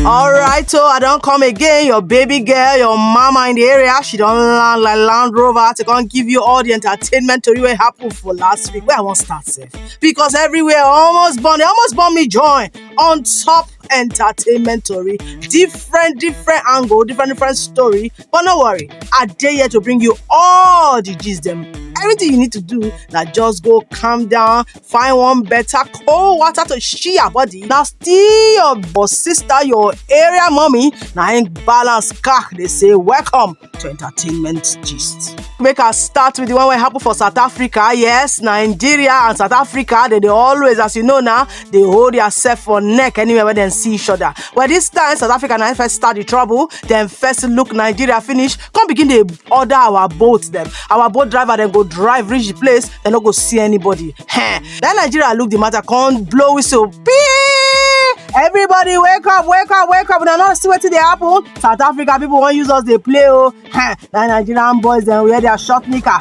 Alright, so I don't come again. Your baby girl, your mama in the area, she don't land like Land Rover to come give you all the entertainment to what happened for last week. Where I want start safe. Because everywhere almost born, they almost born me join on top entertainment story. Different, different angle, different, different story. But no worry, I dare here to bring you all the gist them. Everything you need to do now just go calm down, find one better cold water to shield your body na still your boss sister your area mommy na im balance car dey say welcome to entertainment gist. make i start with the one wey happen for south africa yes nigeria and south africa dey dey always as you know na dey hold theirself for neck anywhere wey dem see each other well this time south africa na im first start the trouble dem first look nigeria finish come begin dey order our boat dem our boat driver dem go drive reach the place dem no go see anybody Heh. then nigeria look the matter come blow whistle pee everybody wake up wake up wake up una no see wetin dey happen south africa people wan use us dey play o Heh. na nigerian boys dem wear their short knicker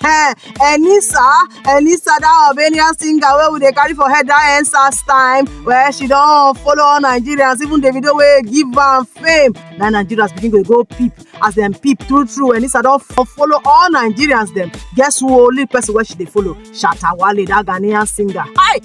Hey, Enisa, Enisa, that Albanian singer where we dey carry for head that answers time, where she don't follow all Nigerians, even the video where give her fame. Now Nigerians begin to go peep as them peep through through. Enisa don't follow all Nigerians them. Guess who only person where she they follow? Shatawale, that Ghanaian singer. Hi,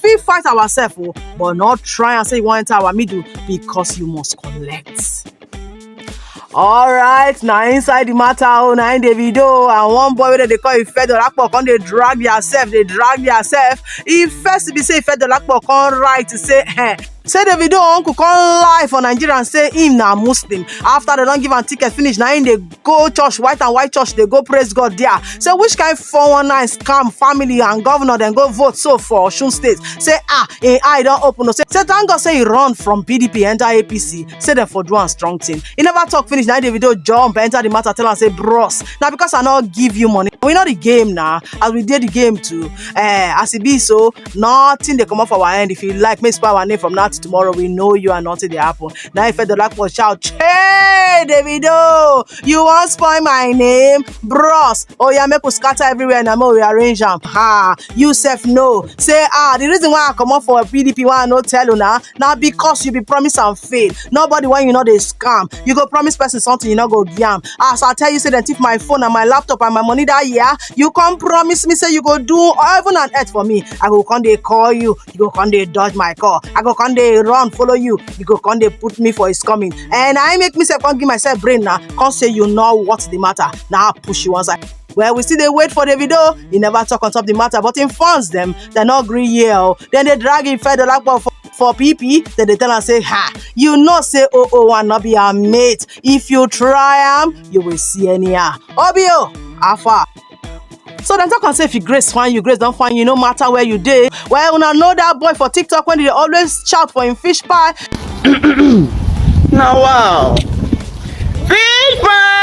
fit fight ourselves o oh, but not try and say you wan enter our middle because you must collect. alright na inside the matter o oh, na im davido and one boy wey dem dey call ifedolapo come dey drag theirself dey drag theirself e first be say ifedolapo come write say eh, say davido uncle come lie for nigeria and say him na muslim after dem don give am ticket finish na him dey go church white and white church dey go praise god there say which kind 419 scam family and governor dem go vote so for osun state say ah im eye don open o say say thank god say e run from pdp enter apc say dem for do am strong thing e never talk finish na davido jump enter the matter tell am say bros na because i no give you money we know the game na as we dey the game too eh as e be so nothing dey comot for our hand if you like make you spoil our name from now till tomorrow we know you and nothing dey happen na im fedolakpo shout hey davido you wan spoil my name bros oya make we scatter everywhere na make we arrange am ha you sef know say ah the reason why i comot for pdp why i no tell una na because you be promise and fail nobody wey you no dey scam you go promise person something you no go give am as i tell you say dem thief my phone and my laptop and my money that year you come promise me say you go do heaven and earth for me i go come dey call you you go come dey dodge my call i go come dey run follow you you go come dey put me for his coming and i make myself come give myself brain na come say you know what's the matter na push you one side well we still dey wait for davido He never talk on top the matter but him fans dem dem no gree hear o dem dey drag him fed olapo for for pp dem dey tell am say ha you know say 001 no be her mate if you try am you will see anyhow obio how far so dem talk am say if you grace find you grace don find you no matter where you dey well una know that boy for tiktok wey dey always shout for him fish pie. na wow fish pie.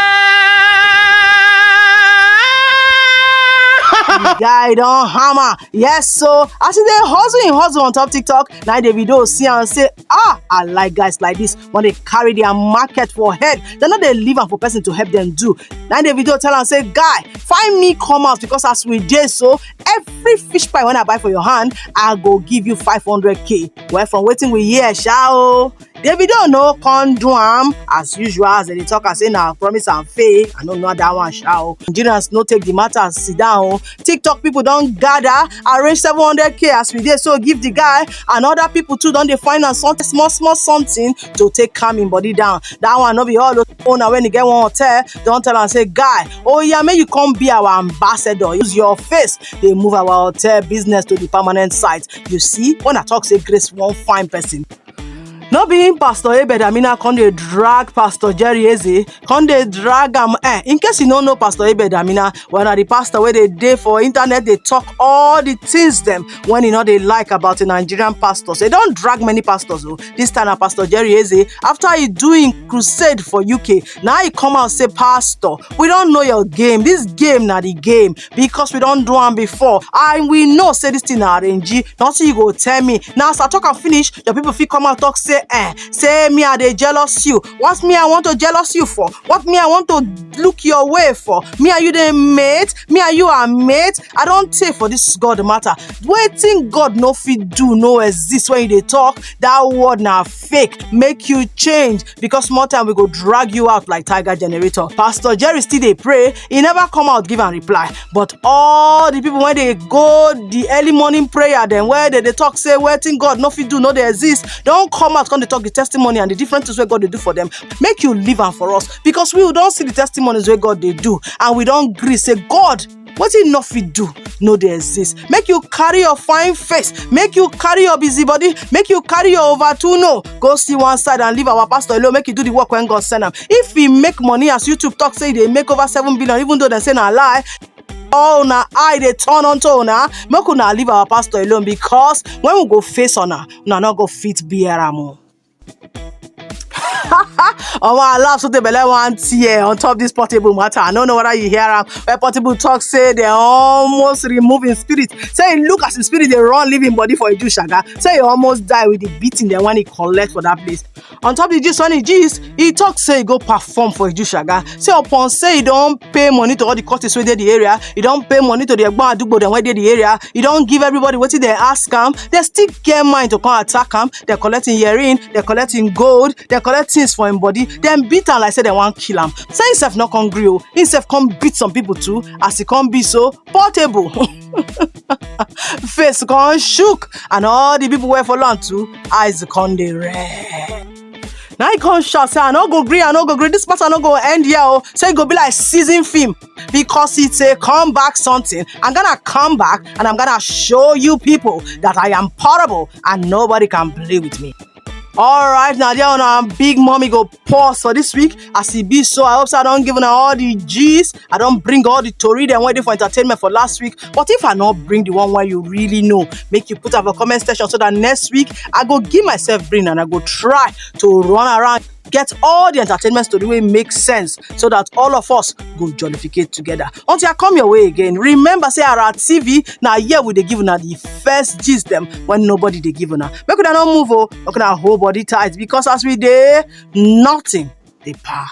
guy don hammer yes so as he dey hustle him hustle on top tiktok na davido see am say ah i like guys like this when they carry their market for head they no dey leave am for person to help them do na the video tell am say guy find me come out because as we dey so every fish pie when i buy for your hand i go give you 500k well from wetin we hear sha o davido no come do am as usual as dem dey talk am say na promise and faith i no know that one sha o nigerians no take the matter sit down o tiktok people don gather arrange 700k as we dey so give the guy and other people too don dey find am something small small something to take calm him body down that one no be all owner when he get one hotel don tell am say guy oh yeah make you come be our ambassador use your face dey move our hotel business to the permanent site you see when i talk say grace wan find person no be him pastor abed amina come dey drag pastor jerry eze come dey drag am eh in case you no know pastor abed amina well na the pastor wey dey dey for internet dey talk all the things dem when e no dey like about the nigerian pastors e don drag many pastors o this time na pastor jerry eze after e do im crusade for uk na e come out say pastor we don know your game this game na the game because we don do am before and we know say this thing na arrange nothing you go tell me now as i talk am finish your people fit come out talk say eh say me i dey jealous you what me i want to jealous you for what me i want to look your way for me and you dey mate me and you are mate i don tey for this god matter wetin god no fit do no exist when you dey talk that word na fake make you change because small time we go drag you out like tiger generator pastor jerry still dey pray e never come out give am reply but all the people wey dey go the early morning prayer dem wey dey dey talk say wetin god no fit do no dey exist don come out come dey talk the testimony and the different things wey god dey do for them make you leave am for us because we don see the testimonies wey god dey do and we don gree say god wetin you no fit do no dey exist make you carry your fine face make you carry your busy body make you carry your over two no go see one side and leave our pastor alone make you do the work when god send am if he make money as youtube talk say he dey make over seven billion even though dem say na lie all una eye dey turn unto una make una leave our pastor alone because when we go face una una no go fit bear am o. omo i laugh so the belle wan tear on top this portable matter i no know whether you hear am wey portable talk say they almost remove him spirit say he look as him spirit dey run leave him body for idu shaga say he almost die with the beating dem when he collect for that place on top the gist when he gist he talk say he go perform for idu shaga say upon say he don pay money to all the courses wey dey the area he don pay money to the egbon adugbo dem wey dey the area he don give everybody wetin dem ask am dem still get mind to come attack am dem collect him earring dem collect him gold dem collect things for him body dem beat am like say dem wan kill am say him sef no come gree o him sef come beat some people too as e come be so portable face come shook and all the people wey follow am too eyes come dey red. na him come shout say i no go gree i no go gree this matter no go end here o say e go be like season film because it's a comeback something. I'm gonna come back and I'm gonna show you people that I am portable and nobody can play with me. All right, now there on our big mommy go pause for this week as it be so. I hope so I don't give her all the G's. I don't bring all the Tori them waiting for entertainment for last week. But if I not bring the one where you really know, make you put up a comment section so that next week I go give myself brain and I go try to run around. get all the entertainment story wey make sense so that all of us go jollificate together until i come your way again remember say ara tv na here we dey give una the first gist dem when nobody dey give una make una no move o make una hold body tight because as we dey nothing dey pa.